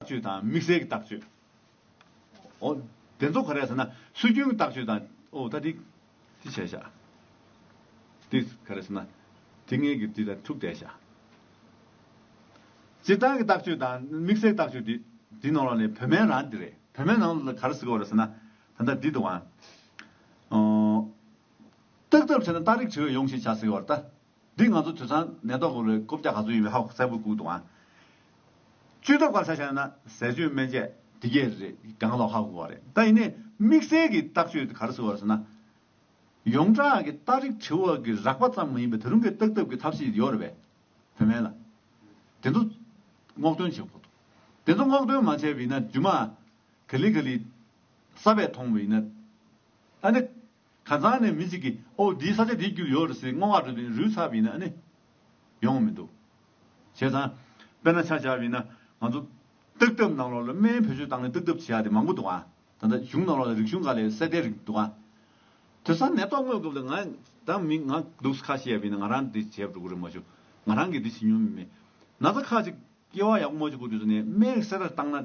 བཅོས་དང་དམིགས་བསལ་གྱི་བརྟག་བཅོས། འོ། དེ་ཚོ་ག་རེ་ཟེར་ན། སྲོལ་རྒྱུན་གྱི་བརྟག་བཅོས་དང། འོ་ད་དེ། དེ་བྱས་བཞག། དེ་ག་རེ་ཟེར་ན། དེ་ངེད་ཀྱིས་དེ་ལ་ཐུགས་གཏད་བཞག། སྤྱིར་བཏང་གི་བརྟག་བཅོས་དང་དམིགས་བསལ་གྱི་བརྟག་བཅོས་དེ། དེའི་ནང་ལ་ནི་བོད་སྨན་རང་དེ་རེད། བོད་སྨན་རང་ལ་ག་རེ་ཟེར་གོ་རེ་ཟེར་ན། ད་ལྟ་འདི་དང། རྟགས་ཐབས་བྱས་ན་རྟགས་རིགས་བྲི་བས་ཡོང་ཞེས་བྱ་ཟེར་བར་ལྟ། འདི་ང་ཚོ་དུད་ཚང་ནད་ཐོག་གི་ལོའི་སྐོབ་རྒྱག་ག་ཚོད་ཡིན་པའི་ཧ་གོ་གསལ་པོ་བསྐུག་འདུག་ཨང། བཅོས་ཐབས་ག་ས་ཞག་ཡོད་ན་ཟས་སྤྱོད་སྨན་དཔྱད་དེ་གས་རེད་སྒང་ལོག་ཧ་གོ་བ་རེད་ད་ཡིན་ནའི་དམིགས་བསལ་གྱི་བརྟག་བཅོས་དེ་ག་རེ་ཟེར་བ་ཟེར་ན། ཡོངས་གྲགས་ཀྱི་རྟགས་རིགས་དྲི་བ་གི་རགས་པ་ཙམ་མ་ཡིན་པའི་ད་རུང་གི་བརྟག་ཐབས་ཀྱི་ཐབས་ཤེས་ཡོད་རེད་པས་བུད་མེད་ལ། དེ་ཚོ་སྔོག་འདོན་བྱེད་ཁོ་ཐུབ། དེ་ཚོ་སྔོག་འདོན་མ་བྱས་པའི་ཡིན་ན་རྒྱུ་མ་ག་ལི་ག་ལི་གསར་པས་མཐོང་བའི་ཡིན་ན། ཨ་ནི་ཁ་རྩང་ནས་མི་གཅིག་གིས་ཨོ་འདིའི་ས་ཆ་འདིའི་རྒྱུད་ཡོད་རེད་ཟེར་བསྔོ་བ་འགྲོ་དུས་རུས་ཚ་བས་ན་ནི་ཡོང་མི་འདུག་བྱས་ཙང། དཔེར་ན་ཆ་བྱ་བས་ན་ང་ཚོ་སྟག་འདབས་ནང་ལོགས་ལ་སྨན་བེད་སྤྱོད་བཏང་ནས་སྟག་འདབས་བྱེ་བ་དེ་མང་པོ་འདུག་ཨ། ད་ལྟ་གཞུང་ནང་ལོགས་ལ་རིག་གཞུང་འགའ་ལས་གསེར་རྟའི་རིགས་འདུག་ཨ། དེ་ས་ནད་ཐོག་དངོས་སྐབས་ལ་ང་དང་མི་ང་འདུག་ས་ཁ་ཤས་བས་ན་ང་རང་འདི་བྱས་འགྲོ་གི་རེད་མ་ཞུ། ང་རང་གིས་འདི་བྱེད་མྱོང་མི་མེད། ན་ཚ་ཁ་ཅིག་སྐྱེ་བ་ཡག་པོ་མ་བྱུང་གི་དུས་སུ་ནས་སྨན་གསེར་རྟ་བཏང་ན།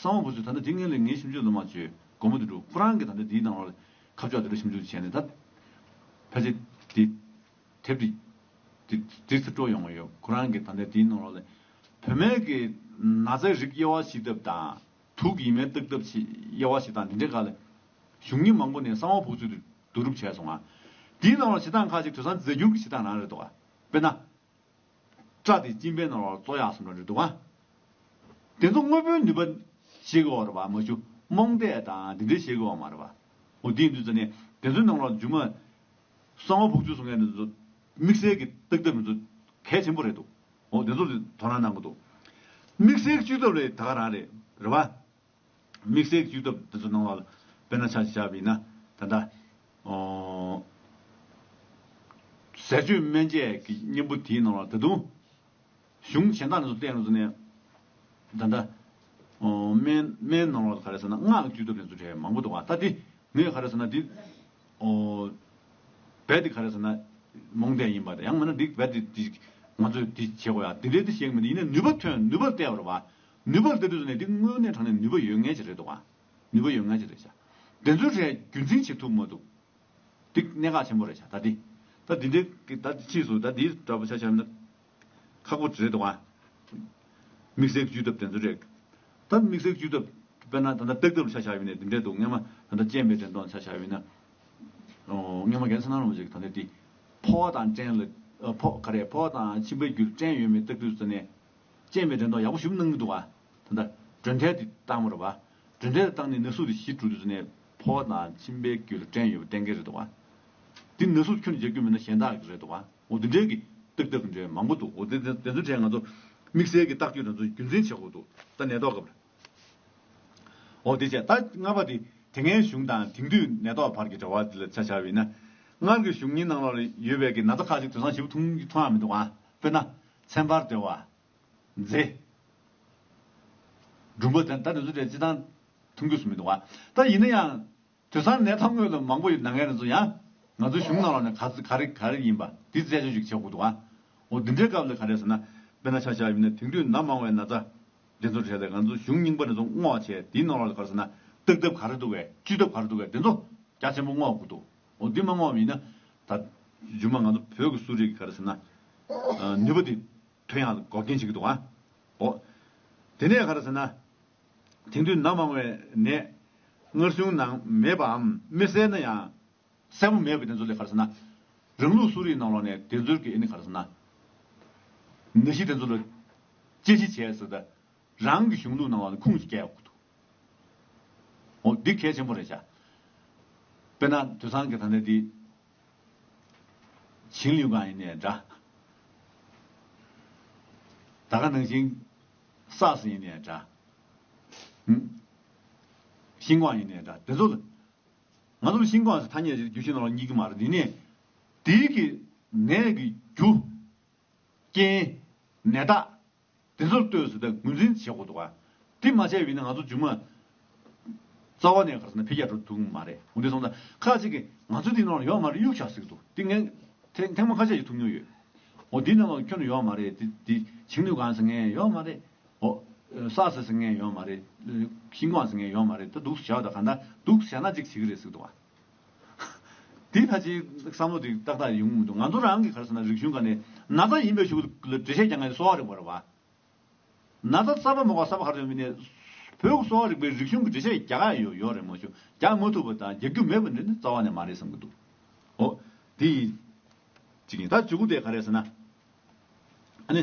གསང་བ་པོ་ཚོས་ད་ལྟ་དེ་ངན་ལས་ངན་ཞིབ་འཇུག་ལ་མ་བཅོས་སྒོར་མོ་དེ་འགྲོ་ཁོ་རང་གིས་ད་ལྟ་དེའི་ནང་ལོགས་ཁ་ཕྱོགས་དེ་ལ་ཞིབ་འཇུག་བྱས་ནས་ད་ཕལ་ཆེར་དེ་དེབ་དེ་འབྲི་ཚེ་སྤྲོ་ཡོང་གི་ཡོད་ཁོ་རང་གིས་ད་ལྟ་དེའི་ནང་ལོགས་ལས་བུད་མེད་ཀྱི་ན་བཟའི་རིགས་དབྱེ་བ་ཕྱིས་ཐབས་དང་དུག་གི་ཡི་མའི་བརྟག་ཐབས་ཕྱིས་དབྱེ་བ་ཞིག་དང་དེ་འདྲའི་འགའ་ལས་གཞུང་གཉིས་མང་པོ་ནས་གསང་བ་པོ་ཚོས་དེ་བསྡུ་རུབ་བྱས་སོང་ང་དེའི་ནང་ལོགས་བྱེད་སྟངས་ཁ་ཅིག་དུད་ཚང་རྫས་འགྱུར་གྱི་བྱེད་སྟངས་རང་རེད་འདུག་དཔེར་ན། སྐྲ་དེ་གཅིན་པའི་ནོར་བར་བཙོ་ཡག་སོང་འདྲ་འདུག་ཨ། དེ་ཚོ་དངོས་པོའི་ནུས་པ་བྱེད་དགོས་བ་རེད་བ་མ་ཞུ་རྨོངས་དད་དང་དེ་འདྲས་བྱེད་དགོས་བ་མ་རེད་བ། འོ་དེའི་དུས་ཚོད་ནས་དེ་ཚོའི་ནང་ལ་རྒྱུ་མ། གསང་བ་བུག་ཆུ་སོགས་ངས་དེ་ཚོ་དམིགས་བསལ་གི་བརྟག་ཐབས་མི་ཚོ་གལ་ཆེན་པོ་རེད་འདུག་འོ་དེ་ཚོ་ལ་དོ་སྣང་གནང་གི་འདུག་དམིགས་བསལ་གཅུས་ཐབས་ལས་ད་ག་རང་རེད་བ། དམིགས་བསལ་གྱི་བཅུད་ཐབས་དེ་ཚོ་སྣང་བ་ལ་དཔེར་ན་ཆ་ཞེས་བྱ་བ་ཡིན་ན། ད་ལྟ། ཟས་སྤྱོད་སྨན་དཔྱད་ཀྱི་གཉེན་པོ་དེའི་སྣང་བ་ལ་ད་དུང། གཞུང་གཞན་དག་ནས་སོ་བསྟན་རུང་ཟེར་ནས། ད་ལྟ། སྨན་སྣང་བ་ལ་ག་རེ་ཟེར་ན་སྔགས་ཀྱི་བཅུད་ཐབས་དེ་ཚོ་ཕྲད་མང་པོ་འདུག་ད་དེ་ངས་ག་རེ་ཟེར་ན་དེ། རྦད་དེ་ག་རེ་ཟེར་ན་རྨོངས་དད་ཡིན་པ་དང་ཡང་མིན་ན་དེ་རྦད་དེ་ང་ཚོས་དེ་བྱེད་དགོས་ཡ་དེ་འདྲའི་དེ་བྱེད་གི་མི་འདུག་ཡིན་ན་ནུས་པ་ཐོན་ནུས་པ་བལྟས་པར་བ། ནུས་པར་བལྟ་དུས་སུ་ནས་འདི་དངོས་གནས་དྲང་ནས་ནུས་པ་ཡོད་ངེས་ཅིག་རེད་འདུག་ག་ནུས་པ་ཡོད་ངེས་ཅིག་རེད་བྱ། དེ་ཚོའི་གྲས་རྒྱུན་འཛིན་བྱེད་ཐུབ་མ་འདུག་འདི་གནད་འགག་ཆེན་པོ་རེད་བྱ་ད་འདི། ད་འདི་འདི་གི་ད་འདི་ཕྱིས་སུ་ད་འདི་འདྲ་པོ་བྱ་བྱ་ན་ཁག་པོ་རེད་འདུག་ག། དམིགས་བསལ་གྱི་བཅོས་ཐབས་དེ་ཚོ་རེད། ད་དམིགས་བསལ་གྱི་བཅོས་ཐབས་དཔེར་ན་ད་ལྟ་སྤེགས་ཐབས་ལ་བྱ་བྱ་ཡོད་ནས་འདི་འདྲས་འདུག་སྔས་མ་ད་ལྟ་སྤྱན་པའི་འགྲན་སྡོང་ལ་བྱ་བྱ་ཡོད་ན། སྔས་མ་གན་ས་ན་རུང་བ་ཞིག་གི་ད་འདི་འདི། ཕོ་བ་དང་སྐྲན་ལ་ཕོ་ག་རེ་ཕོ་བ་དང་མཆིན་པའི་རྒྱུ་ལ་སྐྲན་ཡོད་མེད་བལྟ་དུས་སུ་ནས་སྤྱན་མའི་དྲན་རྟོག་ཡག་པོ་ཞུམ་སྣང་མི་འདུག་ད་ལྟ་སྒྲོན་ཐལ་དེ་བཏང་མོད་བ། སྒྲོན་ཐལ་བཏང་ནས་ན་ཟུག་དེ་ཞི་གྲོལ་དུས་ཚོད་ནས་ཕོ་བ་དང་མཆིན་པའི་རྒྱུད་ལ་སྐྲན་ཡོད་པ་གཏན་འཁེལ་རེད་འདུག་བ། འདི་ན་ཟུག་ཁྱོད་ནས་རྒྱག་རྒྱུ་མིན་ན་གཞན་དག་གི་རེད་འདུག་བ་འོ་དེ་འདྲའི་གི་ཏག་ཏག་གི་འདྲའི་མང་པོ་འདུག་འོ་དེ་དེ་ཚོའི་གྲས་ང་ཚོ་དམིགས་བསལ་གི་བརྟག་བཅོས་དེ་ཚོ་རྒྱུན་འཛིན་བྱེད་དགོས་འདུག་ད་ནད་ཐོག་སྐབས་རེད་འོ་དེ་བྱས་ད་ལྔ་པ་དེ་དེ་སྔའི་གཞུང་དང་དེང་དུས་ནད་ཐོག་བར་གྱི་འབྲེལ་བ་དེ་ལ་ཆ་བྱ་བས་ན། སྔར་གི་གཞུང་གཉིས་ནང་ལོགས་ལ་ཡོད་པའི་གི་ན་ཚ་ཁག་ཅིག་དོན་བཟང་ཞིབ་ཐུང་གི་མཐོང་ཡག་མི་འདུག་བ། དཔེར་ན། ཚན་པར་སྡེ་བ། མཛེས། སྦྲུམ་པོ་དེ་འདྲ་ནི་བཟོ་གྲྭའི་སྤྱི་བཏང་ཐུམ་རྒྱུད་སུ་མི་འདུག་ཨ། ད་ཡིན་ན་ཡང། དུད་ཚང་ནད་ཐབས་དངོས་ལ་མང་པོ་ཡོད་ནངས་ནས་བཟུང་ཡང། ང་ཚོའི་གཞུང་ནང་ལ་ནི་ག་ག་རེ་ག་རེ་ཡིན་པ་དེ་རྩད་གཅོད་ཅིག་བྱེད་དགོས་འདུག་ཨ། འོ་འདི་འདྲའི་སྐབས་ལ་ག་རེ་ཟེར་ན། དཔེར་ན་ཆ་ཆ་ཡུལ་ནས་དེང་དུས་ནམ་མང་བའི་ན་ཚ། འདི་ཚོ་བྲལ་ཏེ་ང་ཚོའི་གཞུང་རྙིང་པ་ནས་བཟུང་བསྔོག་བྱས་དེའི་ནང་ལ་ག་རེ་ཟེར་ན། བརྟག་ཐབས་ག་རེ་འདུག་བས་བཅོས་ཐབས་ག་རེ་འདུག་བས་དེ་ཚོ་རྒྱ་ཆེན་པོ་བསྔོག་དགོས་འདུག། འོ་འདི་མ་སྔོག་བ་མིན་ན། ད། རྗུན་མ་ང་ཚོ་བོད་ཀྱི་གསོ་རིག་གི་ག་རེ་ཟེར་ན། ནུས་པ་དེ། དོན་ཡང་འགོག་རྐྱེན་བྱེད་ཀྱི་འདུག་ཨ། འོ། དེ་ནས་ག་རེ་ཟེར་ན། དེང་དུས་ནད་མང་བའི་ནད། མངར་གསུང་ནང་མེད་པའམ་མི་གསལ་ན་ཡང། གསལ་པོ་མེད་པའི་དེ་ཚོ་ལས་ག་རེ་ཟེར་ན། རང་ལུགས་གསོ་རིག་ནང་ལོགས་ནས་དེ་ཚོལ་གྱི་ཨེ་ནི་ག་རེ་ཟེར་ན། ནད་གཞི་དེ་ཚོ་ལ། དཔྱད་གཞི་བྱས་ཟེར་ད། རང་གི་གཞུང་ལུགས་ནང་ལོགས་ནས་ཁུངས་ཤིག་བསྐྱལ་ཡོང་གི་འདུག། འོ་འདི་གལ་ཆེན་པོ་རེད་བྱ། དཔེར་ན་དུད་ཚང་གི་ད་ནས་འདི། བྱིང་ལེའུ་གང་ཡིན་ནས་འདྲ། ད་ག་ནང་བཞིན། སགས་སུ་ཡིན་ནས་འདྲ། ཧུམ། ཤིང་ཀོང་ཡིན་ནས་འདྲ་དེ་ཚོ། ང་ཚོ་ལ་ཤིང་ཀོང་ཟེར་ཐ་སྙད་རྒྱུ་ཤིང་ནང་ལ་གཉིས་ཀྱི་མ་རེད་འདི་ནས། དེའི་གི། ནས་གི། རྒྱུ། རྐྱེན། ནད་རྟགས། དེ་ཚོར་ལྟོས་ཟེར་ད་ངོས་འཛིན་བྱེད་ཁོ་ཐུག་ཨ། དེ་མ་བྱས་བས་ན་ང་ཚོ་རྒྱུ་མ། རྩ་བ་ནས་གར་ཟེར་ན་ཕལ་སྐྱ་འགྲོ་ཐུག་མ་རེད་འོན་ཏེ་སོང་ད་ཁ་ཅིག་གིས་ང་ཚོ་དེ་ནང་ལ་ཡོད་མ་རེད་གཡུག་བཞག་ཟིག་འདུག་དེ་ངས་ཐེངས་མང་ཁ་ཆད་བྱེད་ཐུབ་མྱོང་ཡོད། འོ་དེ་ནང་ལ་ཁྱོད་ནི་ཡོད་མ་རེད་དེ་དེ་བྱིང་ནུས་གང་ཟེར་ངས་ཡོད་མ་རེད། འོ། ས་ཟེར་ཟེར་ངས་ཡོད་མ་རེད། ཤིང་སྒོང་ཟེར་ངས་ཡོད་མ་རེད་ད་འདུག་བཞག་ད་ག་འདྲ་འདུག་བཞག་ན་ཅིག་བྱེད་ཀྱི་རེད་ཟིག་འདུག་ཨ། དེའི་ཐ་ཆའི་བསམ་བློ་དེ་ཏག་ཏག་ཡོང་གི་མི་འདུག་ང་ཚོ་རང་གི་ག་རེ་ཟེར་ན་རིག་གཞུང་ག་ནས་ན་ཚ་ཡིན་པའི་ཞུ་གི་ལ་འགྲེལ་བཤད་རྒྱག་མཁན་གསོ་བ་རིག་པ་རེད་བ། ན་ཚ་གསར་པ་མོག་ག་གསར་པ་ག་རེ་ཡོང་གི་ནས་བོད་གསོ་བ་རིག་པའི་རིག་གཞུང་གི་འགྲེལ་བཤད་རྒྱག་ཡ་ཡོད་ཡོད་རེད་མ་ཞུ་རྒྱག་མ་ཐུབ་པ་དང་རྒྱག་རྒྱུ་མེད་པ་འདི་ནི་རྩ་བ་ནས་མ་རེད་བསམ་གི་འདུག་འོ་དེ་ཡིན་གཅིག་ཡིན་ད་བཅུ་དགུ་དེ་ག་རེ་ཟེར་ན་ཨ་ནི།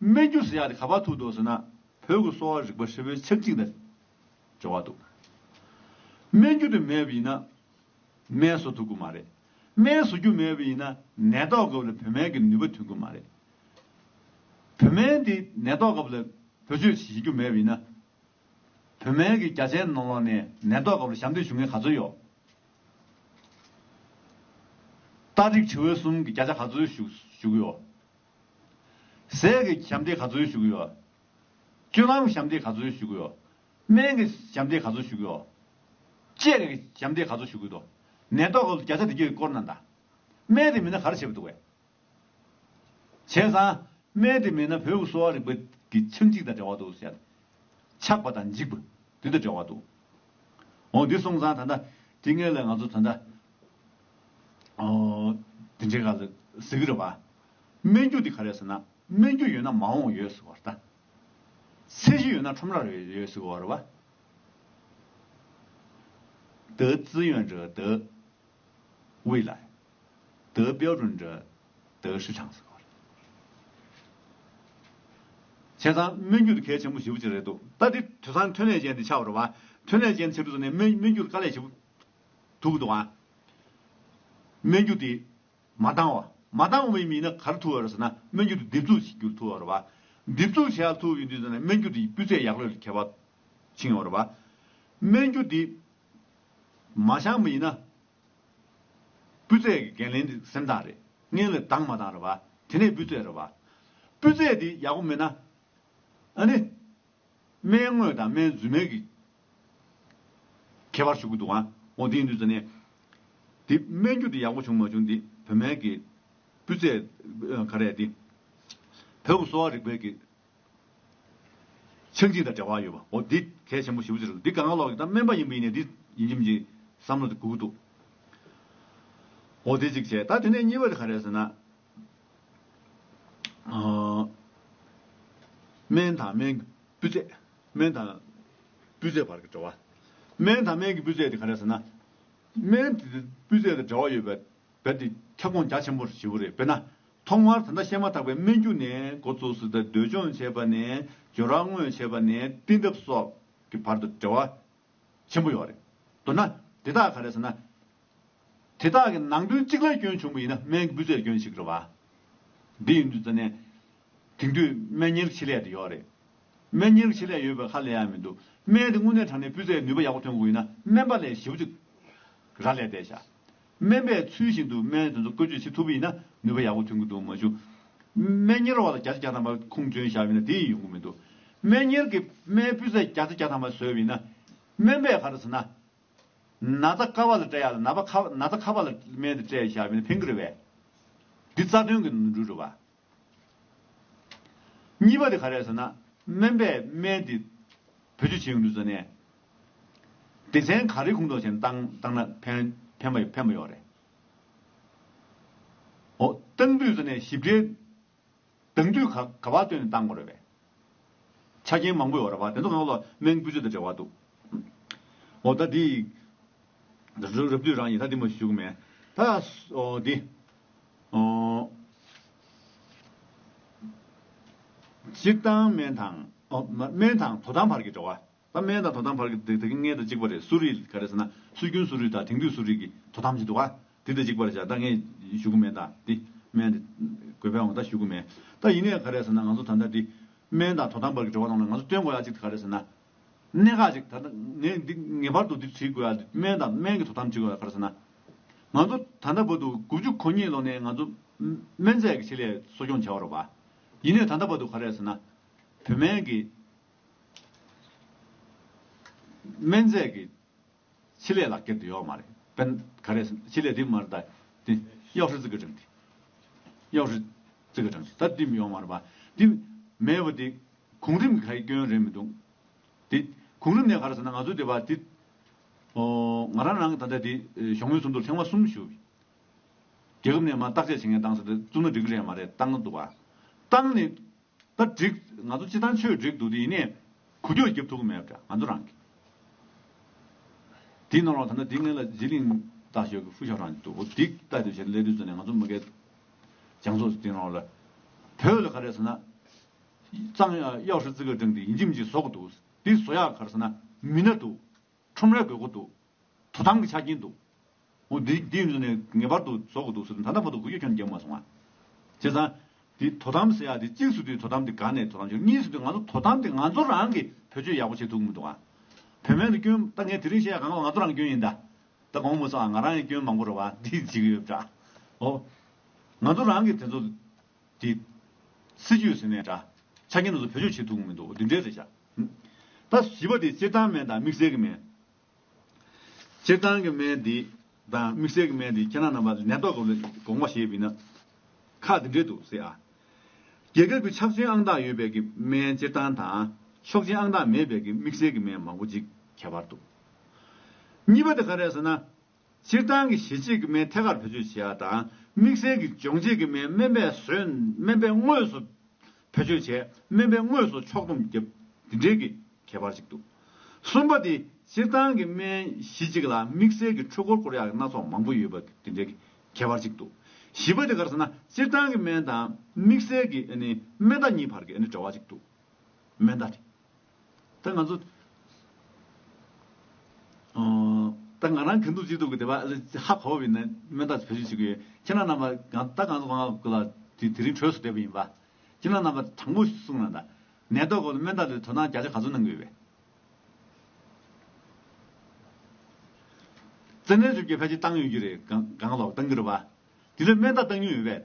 སྨད་རྒྱུད་སུ་ཡང་དེ་ག་པར་ཐུག་འདུག་ཟེར་ན་བོད་ཀྱི་གསོ་བ་རིག་པ་ཧྲིལ་བོའི་ཆབ་གཅིག་དང་འབྲེལ་བ་འདུག། སྨད་རྒྱུད་དུ་མེད་པ་ཡིན་ན་སྨད་བཟོ་ཐུབ་ཀྱི་མ་རེད། སྨད་བཟོ་རྒྱུ་མེད་པ་ཡིན་ན་ནད་ཐོག་སྐབས་ལ་བོད་སྨན་གྱི་ནུས་པ་ཐོན་ཀྱི་མ་རེད། བོད་སྨན་དེ་ནད་ཐོག་སྐབས་ལ་བེད་སྤྱོད་བྱེད་རྒྱུ་མེད་པ་ཡིན་ན། བོད་སྨན་གྱི་རྒྱ་ཆེན་ནང་ལོགས་ནས་ནད་ཐོག་སྐབས་ལ་ཞབས་འདེགས་ཞུ་མཁན་ག་ཚོད་ཡོད། སྟག་རིག་ཁྲི་བོའི་གསུམ་གྱི་བརྒྱ་ཆ་ག་ཚོད་བཞུགས་ཡོད། ཟས་ཀྱི་ཞབས་འདེགས་ག་ཚོད་ཞུ་གི་ཡོད། སྤྱོད་ལམ་ཞབས་འདེགས་ག་ཚོད་ཞུ་གི་ཡོད། སྨན་གྱི་ཞབས་འདེགས་ག་ཚོད་ཞུ་གི་ཡོད། དཔྱད་ཀྱི་ཞབས་འདེགས་ག་ཚོད་ཞུ་གི་ཡོད། ནད་ཐོག་གི་བརྒྱ་ཆ་འདི་བརྒྱད་ཀྱི་སྐོར་ན་འདའ། སྨན་དེ་མེད་ན་ག་རེ་བྱེད་པར་འདུག་བས། བྱས་ཙང། སྨན་དེ་མེད་ན་བོད་ཀྱི་གསོ་བ་རིག་པ་གྱི་ཆག་འཇིག་དང་འབྲེལ་བ་འདུག་བསལ། ཆག་པ་དང་འཇིག་པ་དེ་དང་འབྲེལ་བ་འདུག། འོ་འདི་གསུངས་ཙང་ད་ལྟ་དེ་ངེད་ལ་ང་ཚོ་ད་ལྟ། དེ་འདྲའི་ག་ལ་ཟིག་རེད་བ། སྨན་རྒྱུ་དེ་ག་རེད་ཟེར་ན་སྨན་རྒྱུ་ཡོད་ན་མ་འོངས་ཡོད་ཟེར་བ་རེད་ད། ཚད་གཞི་ཡོད་ན་ཁྲོམ་ར་རེ་ཡོད་ཟེར་བ་རེད་བ། དེ་ཙི་ཡོན་རེད་དེ་དབུས་ལ་ཡོད་དེ་དཔལ་རོན་རེད་དེ་ཧྲི་ཁྲང་ཟེར་བ་རེད། བྱས་ཙང་སྨན་རྒྱུ་དེ་གལ་ཆེན་པོ་ཞེ་བོ་གཅིག་རེད་འདུག་ད་དེ་དུས་སང་ཐོན་ལས་ཅན་དེ་ཆགས་པ་རེད་བ། ཐོན་ལས་ཅན་ཚེ་འཕྲུལ་ཚོ་ནས་སྨན་རྒྱུ་དེ་དཀའ་ལས་ཞེ་བོ། དུག་དང། སྨན་རྒྱུ་དེ། མ་བཏང་བ། མ་བཏང་བའི་མི་ནི་གར་ཐུ་བ་རུ་ཟེར་ན་སྨན་རྒྱུ་དེ་རྡིབ་བཙུགས་བྱེད་རྒྱུར་ཐུ་བ་རུ་བ། རྡིབ་བཙུགས་བྱེད་ཡག་ཐུ་བའི་དུས་ཟེར་ན་སྨན་རྒྱུ་དེའི་སྤུས་ཚད་ཡག་ལོས་ལ་ཁྱད་པར་འབྱིན་བ་རུ་བ། སྨན་རྒྱུ་དེ། མ་བཤངས་པ་ཡིན་ན། སྤུས་ཚད་ཀྱི་འགན་ལེན་དེ་སེམས་ཐག་རེད་ངེས་ལ་བཏང་མ་བཏང་རུ་བ་དེ་ནས་སྤུས་ཚད་རུ་བ། སྤུས་ཚད་དེ་ཡག་པོ་མེད་ན། ཨ་ནི། སྨན་དངོས་དང་སྨན་རྫུན་མའི་གི། ཁྱད་པར་ཞུ་གི་འདུག་ཨང། འོ་དེ་ཡིན་དུས་ཟེར་ནས། དེ་སྨན་རྒྱུ་དེ་ཡག་པོ་བྱུང་མ་བྱུང་དེ་བོད་སྨན་གི། སྤུས་ཚད། ག་རེ་དེ། བོད་ཀྱི་གསོ་བ་རིག་པའི་གི། ཆག་འཇིག་དང་འབྲེལ་བ་ཡོད་པ་འོ་དེ་གལ་ཆེན་པོ་ཞིབ་བརྗོད་བྱེད་དགོས་འདུག་དེ་ག་ང་ལོག་གི་ད་སྨན་པ་ཡིན་པ་ཡིན་ནས་དེ་ཡིན་གྱི་མི་འཇིག་བསམ་བློ་དེ་དགོས་གི་འདུག། འོ་དེ་གཅིག་བྱས་ད་དེ་ནས་གཉིས་པ་དེ་ག་རེ་ཟེར་ན། སྨན་དང་སྨན་གྱི་སྤུས་ཚད། སྨན་དང་སྤུས་ཚད་བར་གྱི་འབྲེལ་བ། སྨན་དང་སྨན་གྱི་སྤུས་ཚད་དེ་ག་རེ་ཟེར་ན། སྨན་དེ་སྤུས་ཚད་དང་འབྲེལ་བ་ཡོད་པའི་བལ་ཏེ་ཁྱབ་ཁོངས་རྒྱ་ཆེན་པོ་བཞི་བོ་རེད། དཔེར་ན། ཐོག་མར་ད་ལྟ་བཤད་མ་ཐག་པའི་སྨན་རྒྱུ་ནས་འགོ་བཙུགས་སྲིད་དང་འདོད་སྦྱོང་བྱེད་པ་ནས་སྦྱོར་རག་དངོས་བྱེད་པ་ནས་བསྟི་གདབ་སོགས་ཀྱི་བར་དུ་འབྲེལ་བ། ཆེན་པོ་ཡོད་རེད། མདོར་ན། དེ་དག་ག་རེད་ཟེར་ན། དེ་དག་གི་ནང་དོན་གཅིག་ལ་སྐྱོན་བྱུང་བ་ཡིན་ན་སྨན་གྱི་སྤུས་ཚད་སྐྱོན་ཞིག་རེད་བ། དེ་ཡིན་དུས་ཙི་ནས། དེང་དུས་སྨན་ཉེར་ཆེ་ལས་དེ་ཡོད་རེད། སྨན་ཉེར་ཆེ་ལས་ཡོད་པའི་ཁར་ལས་ཡ་མི་འདུག་སྨན་དེ་དངོས་གནས་དྲང་ནས་སྤུས་ཚད་ནུས་པ་ཡག་པོ་ཐོན་དགོས་ཡིན་ན་སྨན་པ་ལས་ཞེ་བོ་གཅིག་ར་ལས་བསྡད་བཞག་སྨན་པས་ཚུལ་བཞིན་དུ་སྨན་དེ་ཚོ་བཀོལ་སྤྱོད་བྱེད་ཐུབ་པ་ཡིན་ན་ནུས་པ་ཡག་པོ་ཐོན་གྱི་འདུག་མ་གཞུག། སྨན་གཉེར་བ་ལ་བརྒྱ་ཆ་བརྒྱ་ཐམ་པ་ཁུངས་བཙུན་བཞག་པ་ཡིན་ན་དེ་ཡིན་ཡོང་གི་མི་འདུག་སྨན་གཉེར་གྱིས་སྨན་སྤུས་ཚད་བརྒྱ་ཆ་བརྒྱ་ཐམ་པ་བཟོས་པ་ཡིན་ན། སྨན་པས་ག་རེ་བཟོས་ན། ན་ཚ་དཀའ་བ་ལ་སྤྲད་ཡག་ལ་ན་པ་ཁ་ན་ཚ་ཁ་བ་ལ་སྨན་དེ་སྤྲད་ཡག་བཞག་པ་ཡིན་ན་ཕན་གྱི་རེད་བས། འདི་རྩ་དོན་གྱི་འགྲུལ་རེད་བ། གཉིས་པ་དེ་ག་རེད་ཟེར་ན་སྨན་པས་སྨན་དེ་བེད་སྤྱོད་བྱེད་ཡོང་དུས་ཟེར་ནས། སྡེ་ཚན་ག་རེའི་ཁུངས་གཏོགས་བྱས་ནས་བཏང་བཏང་ན་ཕན་ཕན་པ་ཕན་པ་ཡོད་རེད། འོ་བཏང་དུས་ཟེར་ནས་ཞིབ་ཕྲའི་གདང་དུས་ག་ག་བ་བཏོན་ནས་བཏང་དགོས་རེད་པས། ཆ་རྐྱེན་མང་པོའི་འོག་ར་བར་དེ་ཚོ་ངའི་བློར་སྨན་སྤུས་ཚད་དང་འབྲེལ་བ་འདུག། འོ་ད་འདི་ཡིས། རབ་བསྡུས་རང་ཡིན་ད་འདི་མ་ཞུ་གི་མེད། ད་འོ་འདི། སྤྱིར་བཏང་སྨན་དང། སྨན་དང་དོ་དམ་བར་གྱི་འབྲེལ་བ། ད་སྨན་དང་དོ་དམ་བར་གྱི་དེ་དེ་གི་མངལ་དང་གཅིག་པ་རེད་སུ་རི་ག་རེ་ཟེར་ན་སྲོལ་རྒྱུན་སུ་རི་དང་དེང་དུས་སུ་རི་གི་དོ་དམ་བྱེད་འདུག་ག་དེ་དེ་གཅིག་པ་རེད་བྱ་ད་ངས་ཞུ་གི་མེད་ད་དེ་སྨན་དེ་དགོས་པའི་འོང་ད་ཞུ་གི་མེད་ད་ཡིན་ནའི་ག་རེ་ཟེར་ན་ང་ཚོ་ད་ལྟ་དེ་སྨན་དང་དོ་དམ་བར་གྱི་བྲོ་བ་གནང་ན་ང་ཚོ་སྟོན་དགོས་ཡ་གཅིག་ག་རེ་ཟེར་ན་གནད་འགག་ཅིག་ད་ལྟ་ངས་འདི་ངེས་པར་དུ་འདི་བྲིས་དགོས་ཡ་སྨན་དང་སྨན་གྱི་དོ་དམ་བྱེད་དགོས་ཡ་ག་རེ་ཟེར་ན་ང་ཚོ་ད་ལྟ་བར་དུ་དགུ་བཅུ་གོ་གཉིས་ལོ་ནས་ང་ཚོ་སྨན་རྫས་ཀྱི་ཆེད་ལས་གསོ་སྐྱོང་བྱས་བ་རོགས་པ་ཡིན་ནའི་ད་ལྟ་བར་དུ་ག་རེ་ཟེར་ན་བོད་སྨན་གྱི་སྨན་རྫས་ཀྱི་ཆེད་ལས་ལག་ཁྱེར་དེ་ཡོག་མ་རེད་དཔེན། ག་རེ་ཆེད་ལས་དེ་མ་རེད་ད་དེ། གཡོག་ཧྲི་ཙི་གི་དྲང་ཏི། གཡོག་ཧྲི་ཙི་གི་དྲང་ཏི་ད་དེ་ཡོག་མ་རེད་པ། དེ་མེད་པ་དེ་གོང་རིམ་གྱི་ག་རེ་སྐྱོན་རེད་མི་འདུག། དེ་གོང་རིམ་ནས་ག་རེ་ཟེར་ན་ང་ཚོ་དེ་བ་དེ། ཨོ། ང་རང་རང་གི་ད་ལྟ་དེ་ཞོགས་མོའི་ཚོགས་འདུར་ཐེངས་མ་གསུམ་ཞུགས། རྒྱལ་ཁབ་ནས་མ་བརྟག་དཔྱད་བྱེད་མཁན་བཏང་ཟེར་ཏེ་བཙུགས་ན་འགྲིག་གི་རེད་མ་རེད་བཏང་འདུག་བ། བཏང་ནས་ད་འགྲིག། ང་ཚོ་སྤྱི་དང་ཆོས་འགྲིག་འདུག་དེ་ཡིན་ནས། གུ་གྱོགས་རྒྱབ་ཐུག་གི་མེད་བྲ་ང་ཚོ་རང་གི། དེའི་ནང་ལོགས་ད་ནི་དེའི་ངན་ལ་ཟི་ལིང་ལྟ་ཞོག་གི་ཧྥུ་ཤ་རང་འདུག་འོ་དེ་ལྟ་དེ་བྱས་ན་ལས་དུས་ཚོད་ནས་ང་ཚོ་མི་སྐད་རྒྱང་ཚོགས་སུ་དེའི་ནང་ལོགས་ལ། བོད་ལ་ག་རེ་ཟེར་ན། གཙང་གཡག་ཧྲི་ཙི་ག་སྒྲེང་དེ་ཡིན་འཇིམ་གྱིས་བཟོ་གི་འདུག་དེ་བཟོ་ཡག་ག་རེ་ཟེར་ན་མི་སྣ་འདུག་ཁྲོམ་ར་དགོས་མཁོ་འདུག་དོ་དམ་གྱི་ཆ་རྐྱེན་འདུག་ཨོ་དེ་དེ་ཡིན་ཟེར་ནས་ངེས་པར་དུ་བཟོ་དགོས་འདུག་ཟེར་ནས་ད་ལྟ་བར་དུ་གུ་གེ་ཁྱོད་ནས་རྒྱག་མ་སོང་ང། བྱས་ཙང། དེ་དོ་དམ་ཟེར་ཡག་དེ་གཅིག་ཟེར་དུས་དོ་དམ་དེ་དགའ་ནས་དོ་དམ་བྱེད་གཉིས་ཟེར་དུས་ང་ཚོ་དོ་དམ་དེ་ང་ཚོ་རང་གིས་བེད་སྤྱོད་ཡག་པོ་བྱེད་ཐུབ་མི་འདུག་ང། བེད་མེད་དུ་སྐྱོན་ད་ངས་དེ་རིང་བཤད་ཡག་གང་ལ་ང་ཚོ་རང་སྐྱོན་ཡིན་ད། ད་དགོངས་མི་སོང་ཨ་ང་རང་ཡང་སྐྱོན་མང་པོ་རེད་བ་འདི་བྱེད་གི་ཡོད་འདྲ། ཨོ། ང་ཚོ་རང་གིས་དེ་ཚོ། དེ། སྲིད་ཇུས་ཟེར་ནས་འདྲ། ཆ་རྐྱེན་དེ་ཚོ་བེད་སྤྱོད་བྱེད་ཐུབ་མི་འདུག་འདི་འདྲའི་རེད་བྱ། ད་བཞི་པ་དེ་སྤྱིར་བཏང་མེད་དང་དམིགས་བསལ་གི་མེད། སྤྱིར་བཏང་གི་སྨན་འདི་དང་དམིགས་བསལ་གྱི་སྨན་འདི་ཁྱེད་རང་རྣམས་པ་ནད་ཐོག་གི་གོང་མ་ཞེས་པའི་ནང་ཁག་འདི་འདྲེས་འདུག་ཟེར་ཨ། རྒྱལ་ཁབ་ཀྱི་ཆག་སྐྱོན་ཨང་རྟགས་ཡོད་པའི་གི་སྨན་སྤྱིར་བཏང་དང་ཆོག་མཆན་ཨང་རྟགས་མེད་པའི་གི་དམིགས་བསལ་གྱི་སྨན་མང་པོ་ཅིག་ཁྱད་པར་འདུག་གཉིས་པ་དེ་ག་རེད་ཟེར་ན་སྤྱིར་བཏང་གི་ཞི་བྱེད་ཀྱི་སྨན་ཐད་ཀར་བེད་སྤྱོད་བྱེད་ཡ་དང་དམིགས་བསལ་གྱི་སྦྱོང་བྱེད་ཀྱི་སྨན་སྨན་པས་ཟོས་སྨན་པས་དངོས་སུ་བེད་སྤྱོད་བྱས་སྨན་པས་དངོས་སུ་ཕྱོགས་བསྡོམས་བརྒྱབ་འདི་འདྲའི་གི་ཁྱད་པར་ཅིག་འདུག་གསུམ་པ་དེ་སྤྱིར་བཏང་གི་སྨན་ཞི་བྱེད་ལ་དམིགས་བསལ་གྱི་འཕྲུལ་འཁོར་སྐོར་ཡག་སྣ་ཚོགས་མང་པོ་ཡོད་པ་འདི་འདྲའི་གི་ཁྱད་པར་ཅིག་འདུག་བཞི་པ་དེ་གར་ཟེར་ན་སྤྱིར་བཏང་གི་སྨན་དང་དམིགས་བསལ་གྱི་སྨན་བརྡ་གཉིས་བར་གྱི་འབྲེལ་བ་ཅིག་འདུག་སྨན་བརྡ་དེ། ད་ང་ཚོ། ད་ང་རང་གིན་དུག་ཅི་དུག་གི་དེ་བ་ཧ་གོ་བ་ཡིན་ན་མན་ད་བེད་སྤྱོད་བྱེད་གི་ཡོད་ཁྱེད་རང་རྣམ་པ་གང་ད་གང་ང་གུ་ལ་དེ་དེ་རིང་གྲོས་སུ་བསྡད་པ་ཡིན་པ་ཁྱེད་རང་རྣམ་པ་དྲང་པོ་གསུང་རང་ད་ནད་ཐོག་གོ་ལ་མན་ད་ལོའི་དོ་སྣང་རྒྱ་ཆ་ག་ཚོད་གནང་གི་ཡོད་པས། བཙན་གནོན་བཅོ་བརྒྱད་ཕལ་ཆེར་བཏང་ཡོད་ཀྱི་རེད་གང་ལོག་བཏང་གི་རེད་བ། དེ་ལོའི་མན་ད་བཏང་མྱོང་ཡོད་པས།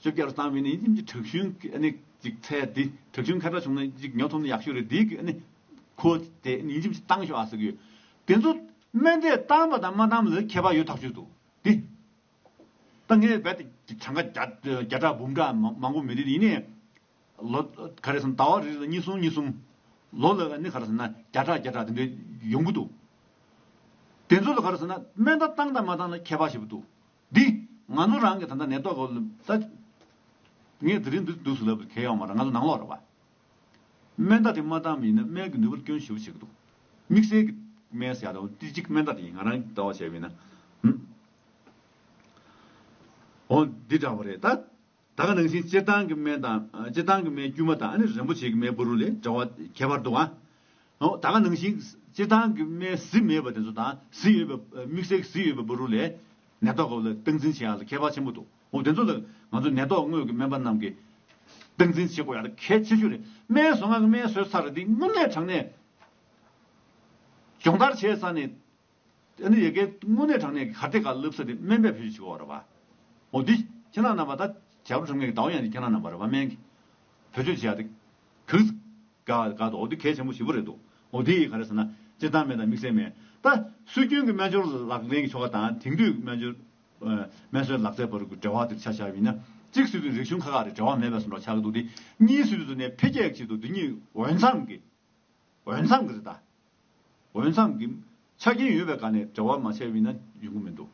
བཅོ་བརྒྱད་རུ་བཏང་བས་ནི་ཡུམ་གྱི་དྲག་ཤུལ་གྱི་ཨ་ནི་ཅིག་ཚད་དེ་དྲག་ཤུལ་མཁའ་འགྲོ་བྱུང་ན་ཅིག་ཉོ་ཐོམ་ནི་ཡག་ཤོས་རེད་དེའི་གི་ཨ་ནི་ཁོ་དེ་ཨ་ནི་ཡུམ་གྱི་བཏང་ཤོག་ཨ་ཟེར་གི་ཡོད་དེ་ཚོ་སྨན་དེ་བཏང་པ་དང་མ་བཏང་བ་ལ་ཁྱད་པར་ཡོད་ཐག་ཆོད་འདུག་དེ་ད་ངས་རྦད་དེ་གྲངས་ཀ་བརྒྱ་ཕྲག་འབུམ་ཕྲག་མང་པོ་མི་རེད་ཡིན་ནས་ལོ་ག་རེ་སོང་ཟླ་བ་རེ་རེ་ལ་གཉིས་གསུམ་གཉིས་གསུམ་ལོ་ལ་ཨ་ནི་ག་རེ་ཟེར་ན་བརྒྱ་ཕྲག་བརྒྱ་ཕྲག་དེ་འདྲའི་ཡོང་གི་འདུག་དེ་ཚོ་ལ་ག་རེ་ཟེར་ན་སྨན་ད་བཏང་དང་མ་བཏང་ལ་ཁྱད་པར་བྱེད་པོ་འདུག། འདི། ང་ནོར་རང་གི་ད་ལྟ་ནད་ཐོག་གོ། ངས་དེ་རིང་འདིར་འདུག་ཟེར་ལབ་དུས་ཁལ་ཡོང་མ་ར་ང་ཚོ་ནང་ལོག་རེད་བ། སྨན་རྟགས་དེ་མ་བཏང་བ་ཡིན་ན་སྨན་གྱི་ནུས་པར་སྐྱོན་ཞུ་བ་བྱེད་ཀྱི་འདུག་དམིགས་བསལ་གྱི་སྨན་ཟེར་ཡག་ཏུ་ཏི་གཅིག་སྨན་རྟགས་དེ་ཡིན་ང་རང་ཟླ་བ་བྱས་པ་ཡིན་ན། འོ་འདི་འདྲ་བ་རེད་ད། ད་ག་རང་བཞིན་སྤྱིར་བཏང་གི་སྨན་དང། སྤྱིར་བཏང་གི་སྨན་དཀྱུས་མ་དང་ནི་རིན་པོ་ཆེ་གི་སྨན་བུ་རུ་ལས་འདྲ་བ་ཁྱད་པར་དུ་འང། ད་ག་རང་བཞིན་སྤྱིར་བཏང་གི་སྨན་གཟི་མེད་པ་དེ་ཚོ་དང་གཟི་ཡོད་པའི་མིག་སེར་གྱི་གཟི་ཡོད་པའི་བུ་རུ་ལས། ནད་ཐོག་གི་ལ་སྟངས་འཛིན་བྱེད་ཡག་ལ་ཁྱད་པར་ཆེན་པོ་འདུག་འོ་དེ་ཚོ་ལ་ང་ཚོ་ནད་ཐོག་དངོས་ཀྱི་སྨན་པ་རྣམས་ཀྱིས། སྟངས་འཛིན་བྱེད་དགོས་ཡག་ལ་གལ་ཆེ་ཤོས་རེད་སྨན་བཟོ་སྔགས་ཀྱི་སྨན་བཟོས་ཚར་རེད་དེ་སྔོན་མའི་དྲང་གནས། སྦྱོང་བརྡར་བྱས་ཚར་ནས། དེ་ནི་ཡི་གེ་དངོས་གནས་དྲང་གནས་ཀྱི་གར་སྟེགས་ཀ་བསླབ་ས་དེ་སྨན་པའི་བུ་ཞིག་གིས་འོ་རེད་པ། འོ་འདི་ཁྱེད་རང་རྣམས་པ་ད་བྱ་བུ་གྲངས་མེད་ཀྱི་ཟླ་བོ་ཡང་འདི་ཁྱེད་རང་རྣམས་པ་རེད་པ་སྨན་གྱི་བུ་ཆོས་བྱས་ཏེ་གུས། ག་ག་འོ་འདི་གལ་ཆེན་པོ་ཞིག་པོ་རེད་འདུག་འོ་འདི་ཡིས་ག་རེད་ཟེར་ན་སྤྱིར་བཏང་སྨན་དང་དམིགས་བསལ་སྨན་ད་སྲོལ་རྒྱུན་གྱི་སྨན་སྦྱོར་ལག་ལེན་གྱི་ཆོ་ག་དང་དེང་དུས་ཀྱི་སྨན་སྦྱོར། སྨན་གསོའི་ལག་རྩལ་བར་གྱི་འབྲེལ་བ་དེར་ཆ་བཞག་པ་ཡིན་ན་གཅིག་སྲིད་དོན་རིག་གཞུང་ཁ་ཁ་རེད་འབྲེལ་བ་མེད་པའི་སུ་འདྲ་ཆགས་ཀྱི་འདུག་འདི་གཉིས་སྲིད་དོན་དུ་ནས་འཕེལ་རྒྱས་ཀྱི་ཆེད་དུ་འདི་གཉིས་འོས་འཚམས་ཀྱི་འོས་འཚམས་ཀྱི་རེད་ད། འོས་འཚམས་ཀྱི་ཆ་རྐྱེན་ཡོད་པའི་སྒང་ནས་འབྲེལ་བ་མ་བྱས་བས་ན་ཡོང་གི་མི་འདུག་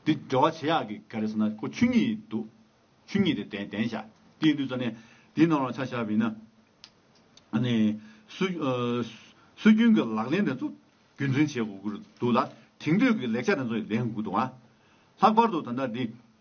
འདི་འབྲེལ་བ་བྱེད་ཡག་གི་ག་རེ་ཟེར་ན་ཁོ་ཆུ་ཉིད་འདུག་ཆུ་ཉིད་དེ་དན་དན་ཤ་དེ་ཡིན་དུས་ས་གནས་དེའི་ནང་ལ་ཆ་བཞག་བས་ན་ནི་སྲོལ་རྒྱུན་གྱི་ལག་ལེན་དེ་ཚོ་རྒྱུན་འཛིན་བྱེད་དགོས་ཀྱི་འདུག་ལ་དེང་དུས་ཀྱི་ལེགས་ཆ་དེ་ཚོ་ཡང་ལེན་དགོས་འདུག་ལྷག་པར་དུ་ད་ལྟ་འདི་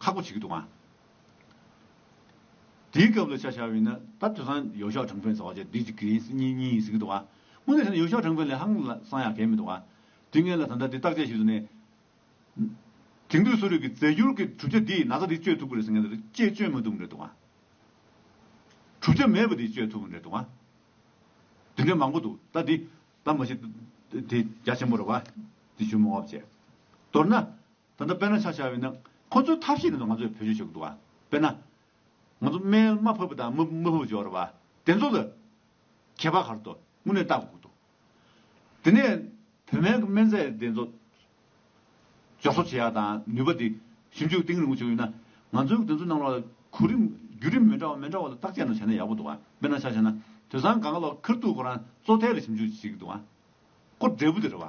ཁག་པོ་བྱེད་ཀྱི་འདུག་ཨང། དེའི་སྐབས་ལ་ཆ་བཞག་པས་ན་ད་དུས་སང་ཡོ་ཤོ་ཁྲང་ཕེན་ཟེར་བ་ཆ་འདི་གཅིག་གིས་ཡིན་སྲིད་གཉིས་གཉིས་ཡིན་སྲིད་ཀྱི་འདུག་ཨང། དངོས་གནས་བྱས་ན་ཡོ་ཤོ་ཁྲང་ཕེན་ལས་ཧང་སང་ཡག་གལ་མི་འདུག་ཨང། དུས་ངན་ལ་ད་ལྟ་འདི་བརྟག་དཔྱད་བྱེད་དུ་ནས། དེང་དུས་གསོ་རིག་གི་རྫས་འགྱུར་གྱི་གྲུབ་ཆ་འདིས་ན་ཚ་འདི་བཅོས་ཐུབ་ཀྱི་རེད་ཟེར་མཁན་དེ་ཚོ་ཅེས་བཅོས་མ་ཐུབ་ཀྱི་རེད་འདུག་ཨང། གྲུབ་ཆ་མེད་པ་འདིས་བཅོས་ཐུབ་ཀྱི་རེད་འདུག་ཨང། དེ་འདྲའི་མང་པོ་འདུག་ད་འདི་ད་མ་བྱེད། དེ་རྒྱ་ཆེན་པོ་རེད་བ། དེ་ཞུ་མི་འོང་བ་བྱས། མདོར་ན། ད་ལྟ་དཔལ་ན་བྱ་བྱ་བས་ནི་ཁོ་ཚོའི་ཐབས་ཤེས་ནས་ང་ཚོས་བེད་སྤྱོད་བྱེད་དགོས་འདུག་བ། དཔེར་ན། ང་ཚོ་རྨས་མ་ཕོད་པ་དང་མི་མི་ཕོད་པ་འཇོག་ར་བ་དེ་ཚོ་ལ། ཁྱད་པར་གར་དུ་དངོས་གནས་བལྟ་དགོས་འདུག་དེ་ནས། བོད་སྨན་གྱི་སྨན་རྫས་དེ་ཚོ། འཇོག་གསོག་བྱེད་ཡག་དང་ནུས་པ་དེ་ཞིབ་འཇུག་གཏིང་རིང་པོ་བྱེད་དགོས་ཡོད་ན། ང་ཚོས་དེ་ཚོའི་ནང་ལ་གོ་རིམ་བརྒྱུད་རིམ་མི་འདྲ་བ་མི་འདྲ་བ་ལ་བརྟག་དཔྱད་ནང་བྱས་ན་ཡག་པོ་འདུག་བ། དཔེར་ན་བྱ་བྱས་ན་དུད་ཚང་གང་ག་ལ་ཁིར་ཐུག་ཁོ་རང་གཙོ་ཐལ་ལ་ཞིབ་འཇུག་བྱེད་ཀྱི་འདུག་བ། ཁོ་འབྲས་བུ་དེ་རེད་བ།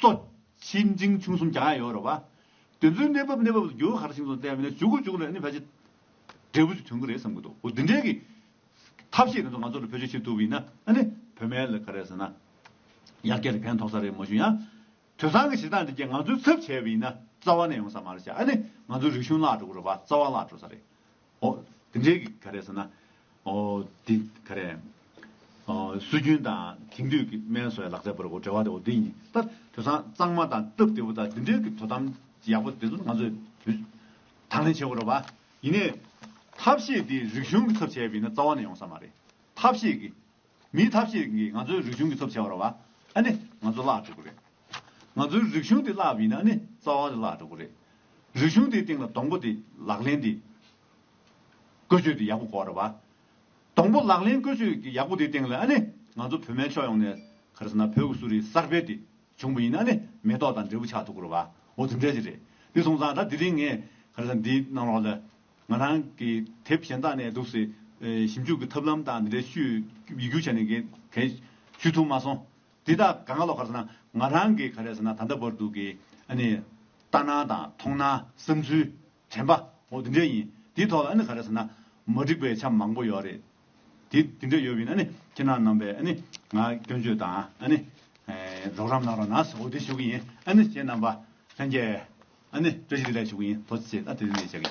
གཙོ། ཆེ་འབྲིང་ཆུང་གསུམ་གྱང་ཡང་ཡོད་རེད་བ། དེ་ཚོའི་གནས་བབ་གནས་བབ་ལ་འགྱུར་བ་ག་རེ་བྱུང་སོང་བལྟས་པ་ནས་བྱུང་གི་བྱུང་རེད་ནི་ཕལ་ཆེར་འབྲས་བུ་ཅིག་ཐོན་གི་རེད་བསམ་གི་འདུག་འོ་དེ་འདྲའི་གི་ཐབས་ཤེས་རེ་ཚོ་ང་ཚོ་ལ་བེད་སྤྱོད་བྱེད་ཐུབ་པ་ཡིན་ན་ཨ་ནི་བོད་མའི་ལ་ག་རེ་ཟེར་ན་ཡར་རྒྱས་ལ་ཕན་ཐོག་ས་རེད་མ་བྱུང་ཡང། དུས་སང་གི་གཞི་གདངས་འདི་རྒྱས་ང་ཚོའི་ཚབ་བྱས་པ་ཡིན་ན་རྩ་བ་ནས་ཡོང་ས་མ་རེད་ཤག་ཨ་ནི་ང་ཚོའི་རིག་གཞུང་བརླག་འགྲོ་གི་རེད་བ་རྩ་བ་བརླག་འགྲོ་ས་རེད་ཨོ། དེ་འདྲའི་གི་ག་རེ་ཟེར་ན། ཨོ། དེ་ག་རེ། ཨོ། སྲོལ་རྒྱུན་དང་དེང་དུས་ཀྱི་སྨན་བཟོ་བའི་ལག་རྩལ་བར་གོ་འབྲེལ་བ་དེ་འོ་དེ་ཡིན། ད་དེང་སང་གཙང་མ་དང་སྟབས་བདེ་བོ་དང་དེ་འདྲའི་གི་དོ་དམ་ཡག་པོ་དེ་ཚོ་ང་ཚོས་དུས་དང་ལེན་བྱེད་དགོས་རེད་བ། ཡིན་ནའི། ཐབས་ཤེས་དེ་རིག་གཞུང་གི་ཚབ་བྱས་པ་ཡིན་ན་རྩ་བ་ནས་ཡོང་ས་མ་རེད། ཐབས་ཤེས་གི། མིའི་ཐབས་ཤེས་ཀྱིས་ང་ཚོའི་རིག་གཞུང་གི་ཚབ་བྱས་པར་བ་ཨ་ནི་ང་ཚོ་བརླག་འགྲོ་གི་རེད། ང་ཚོའི་རིག་གཞུང་དེ་བརླག་པ་ཡིན་ན་ཨ་ནི་རྩ་བ་ནས་བརླག་འགྲོ་གི་རེད། རིག་གཞུང་དེའི་སྟེང་ལ་སྡོང་པོ་དེ་ལག་ལེན་དེ། བཀོལ་སྤྱོད་དེ་ཡག་པོ་དགོས་རེད་བ། སྡོང་པོ་ལག་ལེན་བཀོལ་སྤྱོད་ཀྱི་ཡག་པོ་དེའི་སྟེང་ལ་ཨ་ནི་ང་ཚོ་བོད་མའི་ཕྱོགས་ཡོངས་ནས་ག་རེ་ཟེར་ན་བོད་ཀྱི་གསོ་རིག་གསར་སྤེལ་དེ་བྱུང་པ་ཡིན་ན་ཨ་ནི་མེ་ཏོག་དང་འབྲས་བུ་ཆགས་འདུག་གི་རེད་བ་འོ་དེ་འདྲ་ཞིག་རེད། དེ་སོང་ཙང་ད་དེ་རིང་ངས་ག་རེ་ཟེར་ན་འདིའི་ནང་ལོགས་ལ། ང་རང་གི་དེབ་གཞན་དག་ནས་འདུག་སའི་ཞིབ་འཇུག་གི་ཐབས་ལམ་དག་འདི་འདྲའི་ཤུལ་ཡིག་སྒྱུར་བྱས་ནས་གས་གས་ཞུས་ཐུབ་མ་སོང། འདི་དག་ག་ག་ལོག་གར་ཟེར་ན་ང་རང་གིས་ག་རེ་ཟེར་ན་ད་ལྟ་བར་དུ་གི་ཨ་ནི་ལྟ་སྣང་དང་མཐོང་སྣང་བསམ་ཚུལ་དྲན་པ་འོ་འདི་འདྲས་ཡིན། འདིའི་ཐོག་ལ་ཨ་ནི་ག་རེ་ཟེར་ན་མ་འགྲིག་པའི་ཆ་མང་པོ་ཡོད་རེད། དེ་འདི་འདྲས་ཡོད་བས་ན་ཨ་ནི་ཁྱེད་རང་རྣམས་པས་ཨ་ནི་ང་སྐྱོན་བརྗོད་དང་ཨ་ནི་རོགས་རམ་གནང་རོགས་གནང་སོ་འོ་འདི་ཞུ་གི་ཡིན་ཨ་ནི་ཁྱེད་རྣམས་པ་ལྷན་རྒྱས་ཨ་ནེ། བཀྲ་ཤིས་བདེ་ལེགས་ཞུ་གི་ཡིན་དོ་ཚིགས་བཅད་ཨ་དེ་རེད་བཤད་གི།